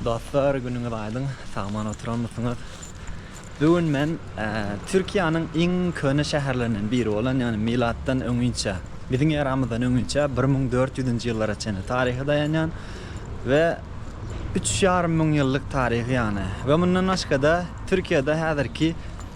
Dostlar günüňiz aýdyň sagman oturanmysyňyz. Bu gün men Türkiýäniň iň köne şäherlerinden biri bolan ýagny milatdan öňinçe biziň eramyzdan öňinçe bir müň dört ýüzünji ýyllara çenli taryha daýanýan we üç ýarym müň ýyllyk taryhy ýagny we mundan başgada Türkiýede häzirki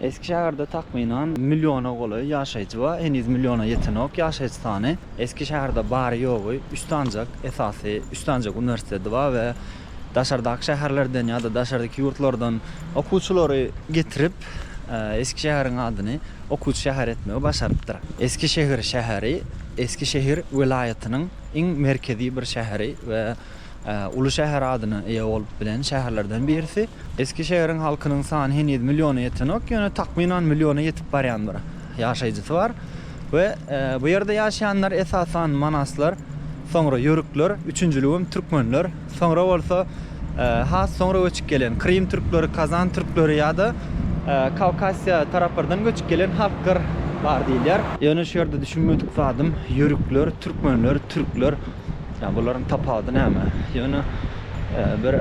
Eski şäherde takmynan milliona golaý ýaşaýjy bar, heniz milliona ýetenok ýaşaýjy sany. Eski şäherde bary-ýogy üç sanjak, esasy üç sanjak uniwersiteti bar we daşardaky şäherlerden ýa-da daşardyky ýurtlardan okuwçylary getirip, eski şäheriň adyny okuwçy şäheri etmegi başarypdyr. Eski şehir şäheri Eski şehir welaýatynyň iň merkezi bir şäheri we Uly şäher adyna eýe bolup bilen şäherlerden birisi. Eski şäheriň halkynyň sany heniz milliona ýetenok, ýöne takmynan milliona ýetip barýan bir ýaşaýjysy bar we bu ýerde ýaşaýanlar esasan manaslar, soňra ýörükler, üçünjiligem türkmenler, soňra bolsa has soňra göçüp gelen krym türkleri, kazan türkleri ýa-da Kawkasiýa taraplardan göçüp gelen halklar bar diýilýär. Ýöne şu ýerde düşünmedik zadym ýörükler, türkmenler, türkler Ýa bularyň tapawudy näme? Ýöne bir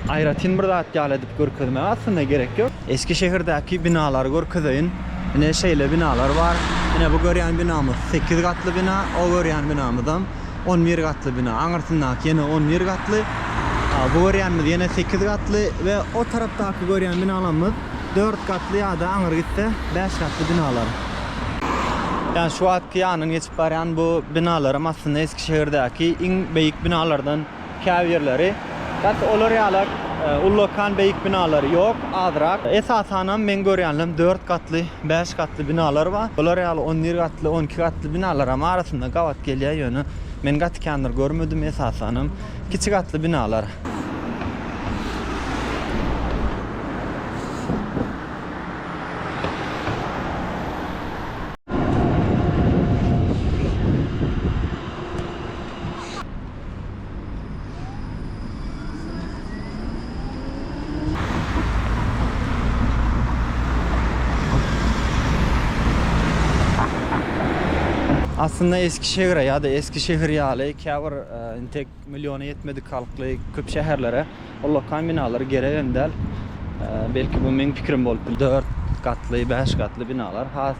aýratyn bir zat ýaly edip görkezmäge aslynda gerek ýok. Eskişehirdäki binalary görkezeýin. Ine şeýle binalar bar. Ine bu görýän binamyz sekiz gatly bina. O görýän binamyzam on bir gatly bina. Aňyrsyndaky ýene on bir gatly. Bu görýänimiz ýene sekiz gatly we o tarapdaky görýän binalarymyz dört gatly ýa-da aňyr gitse bäş gatly binalar. Ýa şu wagtky ýanyndan geçip barýan bu binalaram aslynda Şehirdäki iň beýik binalardan käbirleri, garçy olar ýaly ullakan beýik binalary ýok, azrak. Esasanam meň görýänlerim dört gatly, bäş gatly binalar bar. Olar ýaly on bir gatly, on iki gatly binalaram arasynda gabat gelýär, ýöne men gaty kändir görmedim, esasanam kiçi gatly binalar. Aslynda Eskişehire ýa-da Eskişehir ýaly käbir intek Milliona ýetmedik halkly köp şäherlere ullakan binalar gerek hem däl. Belki bu meň pikirim bolup biler. Dört gatly, bäş gatly binalar has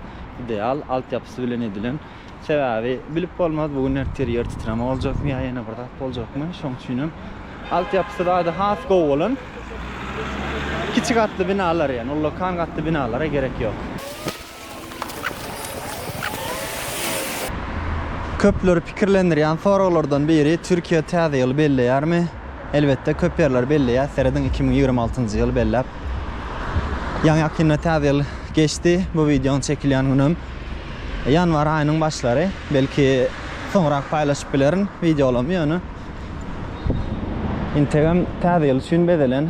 ideal, altyapysy bilen edilen. Sebäbi bilip bolmaz bu gün ertir ýer titreme boljakmy ýa ýene bir zat boljakmy. Şoň üçin hem altyapysy bada has gowy bolan kiçi gatly binalar ýagny ullakan gatly binalara gerek ýok. Köpleri pikirlendirýän soraglardan biri Türkiýe täze ýyly belleýärmi? Elbetde köp ýerler belleýär, serediň iki müň ýigrimi altynjy ýyly belläp. Ýaňy ýakynda täze ýyl geçdi, bu wideonyň çekilýän günüm ýanwar aýynyň başlary, belki soňrak paýlaşyp bilerin wideolamy ýöne integem täze ýyl üçin bezelen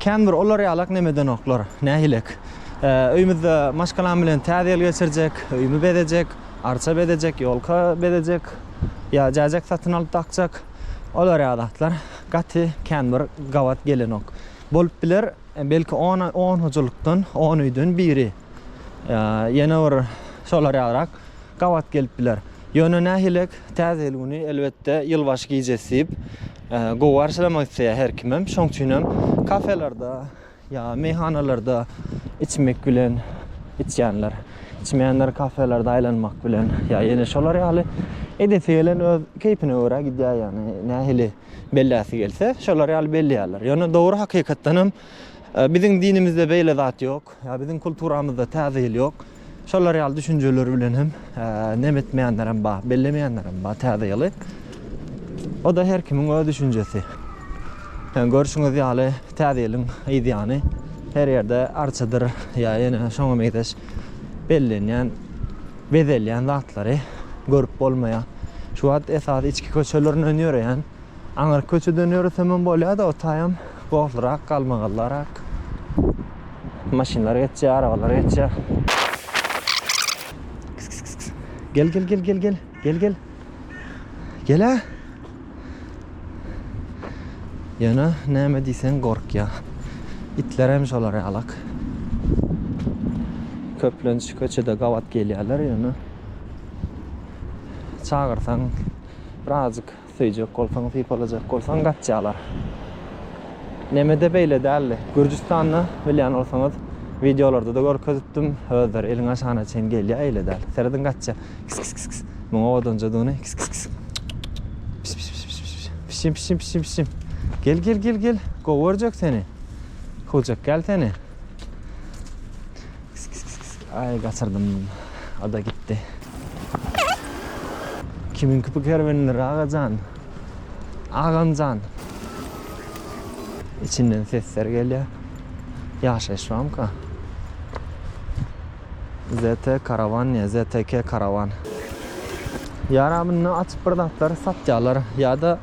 Kän bir olar ýalak nemedenoklar, nähilek. Öýümizde maşgalam bilen Täze ýyl geçirjek, öýümi bezejek, arça bezejek, ýolka bezejek, ýa jäjek satyn alyp dakjak, olar ýaly zatlar gaty kän bir gabat gelenok. Bolup biler, belki on, on hojalykdan, on öýden biri, ýene bir şolar ýalyrak gabat gelip biler. Ýöne nähilek, Täze ýyl güni, elbetde, ýylbaşy gijesi diýip, Gowy garşylamak isleýär her kimem. Şoň üçinem kafelerde ýa meýhanalarda içmek bilen içýänler, içmeýänler kafelerde aýlanmak bilen ýa ýene şolar ýaly edesi gelen öz keýpine görä gidýär ýagny nähili belläsi gelse şolar ýaly belleýärler. Ýöne dogry hakykatdanam biziň dinimizde beýle zat ýok. Ýa biziň kulturamyzda Täze ýyl ýok. Şolar ýaly düşünjeler bilen hem nem etmeýänlerem bar, bellemeýänlerem bar Täze ýyly. O-da her kimiň öz düşünjesi. Ýa görşüňiz ýaly Täze ýylyň yzýany her ýerde arçadyr ýa ýene şoňa meňzeş bellenýän, bezelýän zatlary görüp bolmaýar. Şu wagt esasy içki köçelerinden ýöreýän Aňryk köçeden ýöresem hem bolýar-da, o taýam gozlyrak, galmagallarak. Maşynlar geçýär, arabalar geçýär. Gel, gel, gel, gel, gel. Gel, gel. Gel-ä. Ýöne näme diýseň gorkýar. Itler hem şolar ýalak. Köplenç köçede gabat gelýärler, ýöne çagyrsaň birazajyk Söýjek bolsaň sypalajak bolsaň gaçýalar. Nemede beýle däldi. Gürjüstanda bilýän bolsaňyz wideolarda-da görkezipdim. Özleri eliň aşagyna çenli gelýär eýle däl. Serediň gaçýar. Kis kis kis kis. Muň owadanjadygyny kis kis kis. Pis pis pis pis pis. Pişim pişim pişim pişim. Gel gel gel gel. Gowy görjek seni. Hujak gel seni. Aý gaçyrdym oda gitdi. Kimiňki bu kerwenler agajan? Agamjan. Içinden sesler gelýär. Ýaşaýyş bamyka? ZT karawan ýa ZTK karawan. Ýara munda açyp bir zatlar satýalar ýada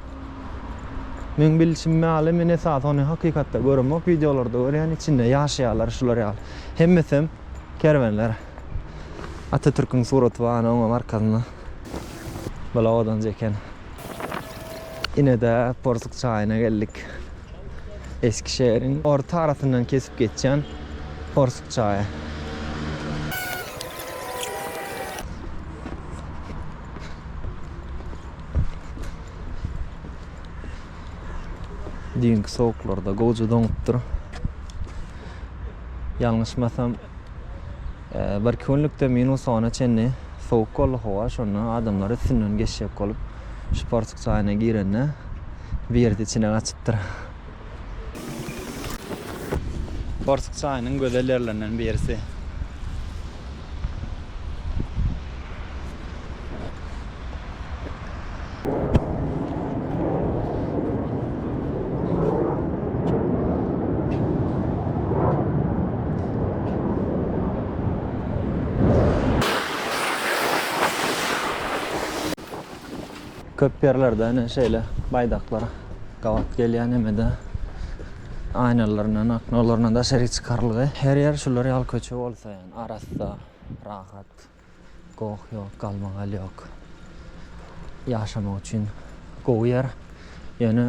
meň bilşim maly men esasy ony hakykatda göremok wideolarda görýän içinde ýaşaýalar şular ýaly. Hemmesem kerwenler. Atatürküň suraty bar hany oňam arkasynda. Bula odan çeken. Ine-de Porsuk çaýyna geldik. Eskişehiriň orta arasyndan kesip geçýän Porsuk çaýy. Düýnki sowuklarda gowja doňupdyr. Ýalňyşmasam, bir künlükde minus ona çenli sowuk boldy howa, şonda adamlar üstünden geçjek bolup, şu portug jaýyna girende, birisi içine gaçypdyr. Portug jaýynyň gözel ýerlerinden birisi. Köp ýerlerde ene şeýle baýdaklar gabat gelýär nemede aýnalaryndan, oknalaryna daşaryk çykarylgy. Her ýer şular ýaly köçe bolsa. Arassa, rahat. Goh ýok, galmagal ýok. Ýaşamak üçin gowy ýer. Ýöne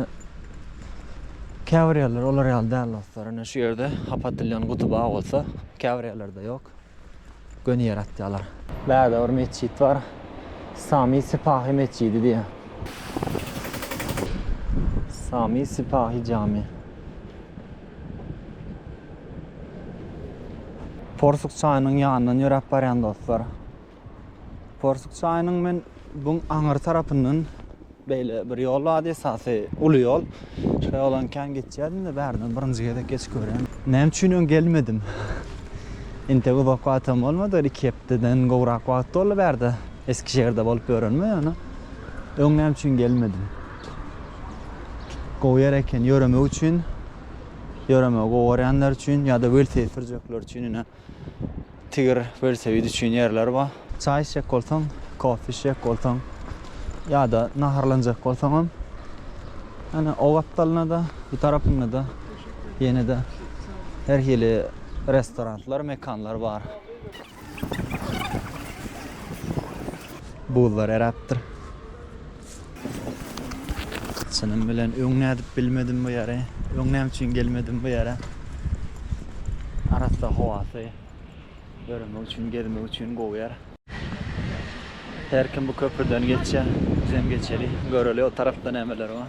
käbir ýerler olar ýaly däl dostlar. Ine şu ýerde hap atylýan guty bar bolsa, käbir ýerlerde ýok. Göni ýere atýarlar. Bärde bir metjit bar. Sami Sipahi metjidi diýýär. Sami Sipahi jami. Porsuk çaýynyň ýanyndan ýöräp barýan dostlar. Porsuk çaýynyň men buň aňyr tarapyndan beýle bir ýol bardy, esasy uly ýol. Şo ýolan kän geçýärdim-de, bärinden birinji gezek geçip görýän. Näme üçin öň gelmedim? Entek uzak wagtam bolmady, bir iki hepdeden gowrak wagt boldy bärde, Eskişehirde bolup ýörenimi ýöne öň näme üçin gelmedim? Gowy ýer eken ýöremek üçin. Ýöremegi gowy görýänler üçin ýa-da welosiped sürjekler üçin ine tigir welosiped üçin ýerler bar. Çaý içjek bolsaň, kofe içjek bolsaň ýa-da naharlanjak bolsaňam ýöne o gapdalyna-da, bu tarapyna-da ýene-de her hili restoranlar, mekanlar bar. Buzlar eräpdir. Çynym bilen öň nädip bilmedim bu ýere. Öň näme üçin gelmedim bu ýere. Arassa howasy ýöremek üçin, gezmek üçin gowy ýer. Her kim bu köprüden geçýär. Bizem geçeli, göreli o tarapda nämeler bar.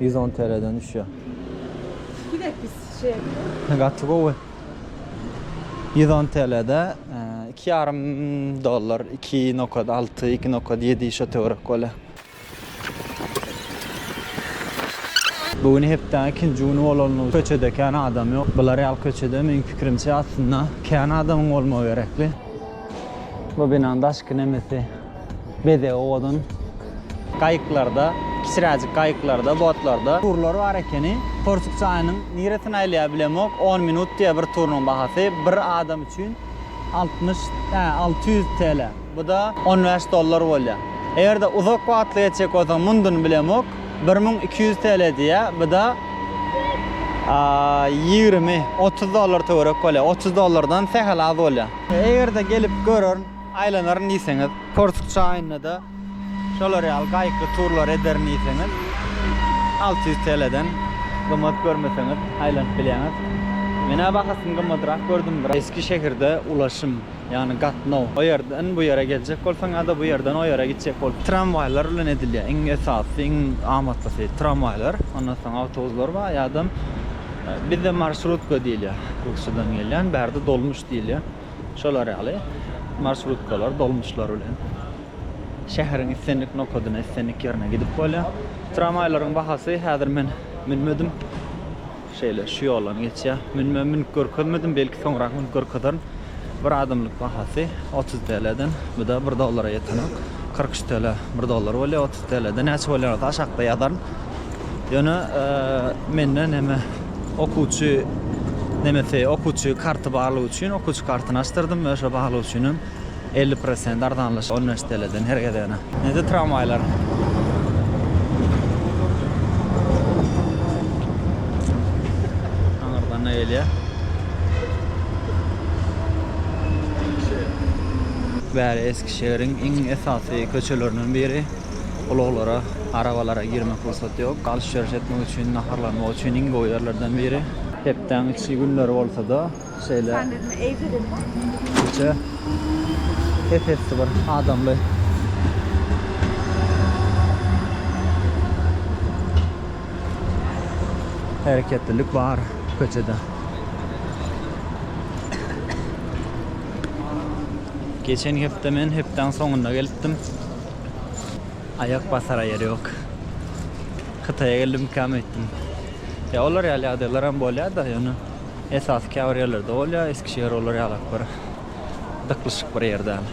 Ýüz on TLden düşýär. Gidek biz şeýle. Gaty gowy. Ýüz on TLde iki ýarym dollar, iki nokat alty, iki nokat ýedi şo töwerek bolýar. Bu gün hepdäň ikinji güni bolanlygy köçede kän adam ýok. Bular ýaly köçede meň pikirimçe aslynda kän adamyň bolmagy gerekli. Bu binanyň daşky nemesi. bezegi owadan gaýyklarda, kiçiräjik gaýyklarda, botlarda, turlary bar ekeni. Porsuk çaýynyň niresini aýlaýar bilemok, on minut diýýär bir turunyň bahasy, bir adam üçin altmyş, hä, alty ýüz TL. Bu-da on bäş dollar bolýar. Eger-de uzak wagtly geçjek bolsaň, mundyny bilemok, bir müň iki ýüz TL diýýär, bu-da ýigrimi, otuz dollar töwerek bolýar, otuz dollardan sähel az bolýar. Eger-de gelip görerin. Aýlanaryn diýseňiz, Korsk çaýynda-da şolar ýaly gaýykly turlar ederin diýseňiz, alty ýüz TL-den gymmat görmeseňiz aýlanyp bilýäňiz. Men-ä bahasyny gymmadrak gördüm, bir. Eski şäherde ulaşym, ýagny gatnaw, o ýerden bu ýere geljek bolsaň ýa-da bu ýerden o ýere gitjek bolsaň, tramwaýlar bilen edilýär. Iň esasy, iň amatlysy tramwaýlar, ondan soň awtobuslar bar, ýa-da bizde marşrutka diýilýär, rusçadan gelýän, bärde dolmuş diýilýär. şolar ýaly marsrutkalar, dolmuşlar bilen şäheriň islendik nokadyna, islendik ýerine gidip bolýar. Tramwaýlaryň bahasy, häzir men münmedim, şeýle şu ýoldan geçýär, münme münüp görkezmedim, belki soňrak münüp görkezerin. Bir adamlyk bahasy otuz TL-den, bu-da bir dollara ýetenok, kyrk üç TL, bir dollar bolýar, otuz TL-de näçe bolýanyny aşakda ýazaryn. Ýöne mende näme. Okuwçy nemesi okuwçy karty barlygy üçin okuwçy kartyny açdyrdym we şo barlyk üçin hem elli prosent arzanlaşyk on bäş teleden her gezegine. Nede tramwaýlar? Aňyrdan ne gelýä? Bäri Eskişehiriň iň esasy köçelerinden biri. Ulaglara, arabalara girmek pursaty ýok. Alş-berş etmek üçin, naharlanmak üçin iň gowy ýerlerden biri. Hepdäň içki günleri bolsa-da, şeýle köçe ep-esli bir adamly. Hereketlilik bar köçede. Geçen hepde men hepdäň soňunda gelipdim. Aýak basara ýer ýok. Hytaýa geldim ikama etdim. Ýa olar ýaly ýagdaýlaram bolýar-da, ýöne esasy käbir ýerlerde bolýar, Eskişehir olar ýalak bir dyklyşyk bir ýer däl.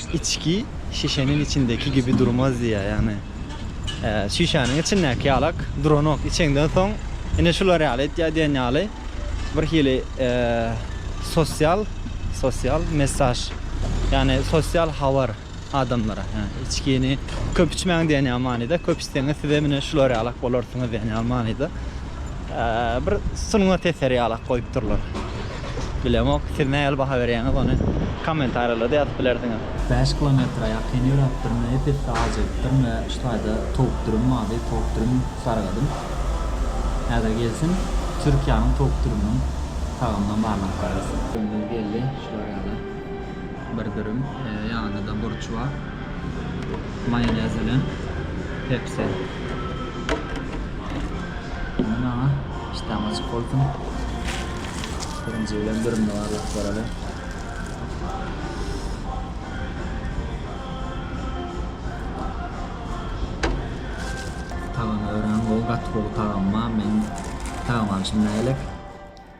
Içki şişäniň içindäki gibi durmaz diýýär. Ýagny şişäniň içindäki ýalak duranok. Içeňden soň ine şular ýaly etýär diýen ýaly bir hili sosial sosial messaž ýagny sosial habar adamlara. Ýagny içgini köp içmäň diýen ýaly manyda. Köp içseňiz siz hem ine şular ýalak bolarsyňyz diýen ýaly manyda. Bir sungat eseri ýalak goýup durlar. Bilemok, siz nähili baha berýäňiz ony kommentariýalarda ýazyp bilersiňiz. Bäş kilometre ýakyn ýöräpdirme, ep-esli aç edipdirme, şu taýda towuk dürüm bardy, towuk dürüm sargadym. Häzir gelsin, Türkiýäniň towuk dürüminiň tagamynam barlap görersiň. Dürümimiz geldi, şular ýaly. Bir dürüm, ýanyda burçua, maýonez bilen pepsi. Indi maňa işdäm açyk bolsun. Birinji bilen dürümni barlap göreli. Tagamy örän gowy, gaty gowy tagamy bar. Meň tagamy alşym nägerek.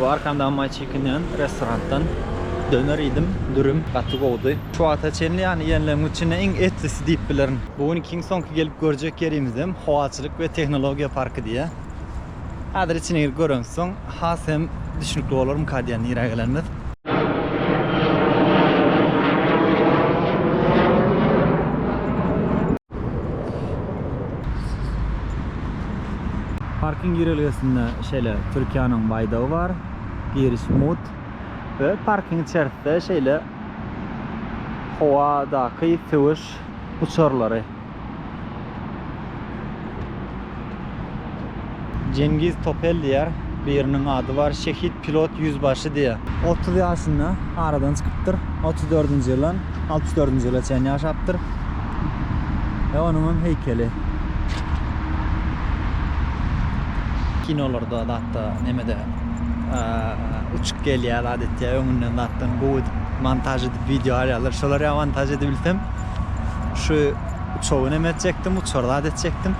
Bu arkamdaky maý çekinýän restorandan döner iýdim, dürüm gaty gowudy. Şu wagta çenli ýany iýenleriň içinde iň etlisi diýip bilerin. Bu günki iň soňky gelip görjek ýerimizem Howaçylyk we tehnologiýa parky diýýär. Häzir içine girip göremizden soň has hem düşnükli bolarmyka diýen ýere gelenimiz. Parking girelgesinde şeýle Türkiýäniň baýdagy bar. Giriş mut. We parking içerisinde şeýle howadaky söweş uçarlary. Jengiz Topel diýýär. Biriniň ady bar, şehit pilot ýüzbaşy diýýär. Otuz ýaşynda aradan çykypdyr. Otuz dördünji ýyldan altmyş dördünji ýyla çenli ýaşapdyr. Ýa onuňam heýkeli. Kinolarda zatda nemede uçuk gelýär adatça öňünden zatdan gowy edip montaž edip wideo alýarlar şolar ýa montaž edibilsem şu uçagy neme etjekdim uçar zat etjekdim.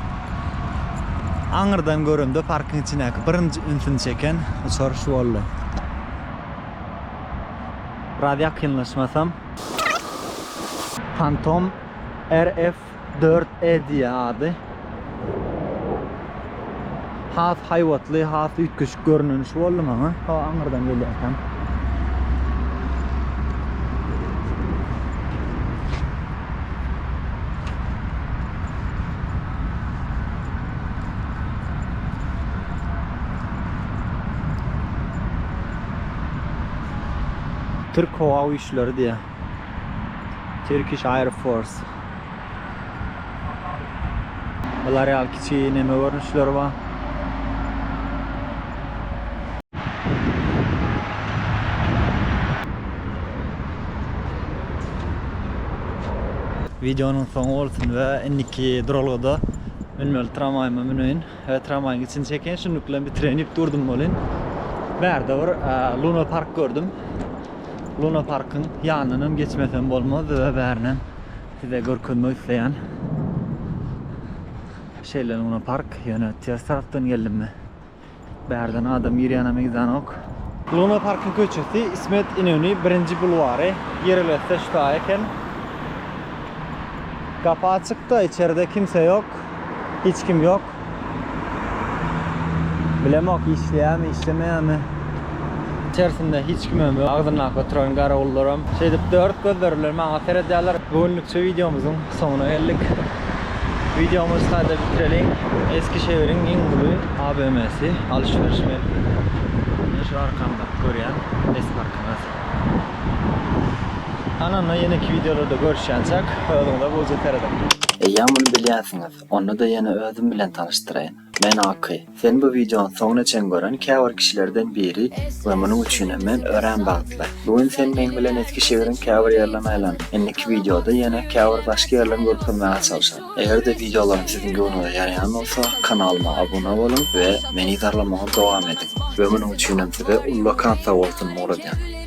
Aňyrdan göremde parkyň içindäki birinji ünsüni çeken uçar şu boldy. Biraz ýakynlaşmasam. Phantom RF-4E diýýär ady. has haýbatly, has üýtgeşik görnüş boldy maňa. Hawa, aňyrdan gelýärkäm. Türk howa güýçleri diýýär. Turkish Air Force. Bular ýaly kiçi neme görnüşleri bar. Videonyň soňy bolsun we indiki duralgada münmeli tramwaýyma müneýin we tramwaýyň içini çekeýin. Şunluk bilen bitireýin diýip durdum welin, bärde bir Luna Park gördüm. Luna Parkyň ýanyndan geçmesem bolmazdy we bärinem Size görkezmek isleýän şeýle Luna Park, ýöne ters tarapdan geldim men. Bärden adam girýäne meýdanok. Luna Parkyň köçesi İsmet İnöni birinji bulwary, girilesi şu taý eken. Gapy açykda, içerde kimse ýok, hiç kim ýok. Bilemok işleýärmi işlemeýärmi. İçerisinde hiç kimem ýok. Agzyndaky oturan garawullaram şeýdip dört gözleri bilen maňa seredýärler. Bu günlükçe wideomyzyň soňuna geldik. Wideomyzy şaýda bitireliň. Eskişehiriň iň uly ABM-si, alyş-beriş merkezi. Mine şu arkamdaky görýän S parkymyz. Anana ýeneki wideolarda görüşýänçäk özüňize gowyja serediň. Eýýäm muny bilýänsiňiz. Onda-da ýene özüm bilen tanyşdyraýyn. Men Aky. Seni bu wideonyň soňuna çen gören käbir kişilerden biri we munuň üçinem men örän bagtly. Bu gün sen meň bilen esgi şägeriň käbir ýerlerini aýlan. Indiki wideoda ýene käbir başga ýerlerini görkezmäge çalşan. Eger-de wideolaryň siziň göwnüňize ýaraýan bolsa, kanalyma abuna boluň we meni zarlamagy dowam ediň. We munuň üçinem size ullakan sag bolsun mugradýan.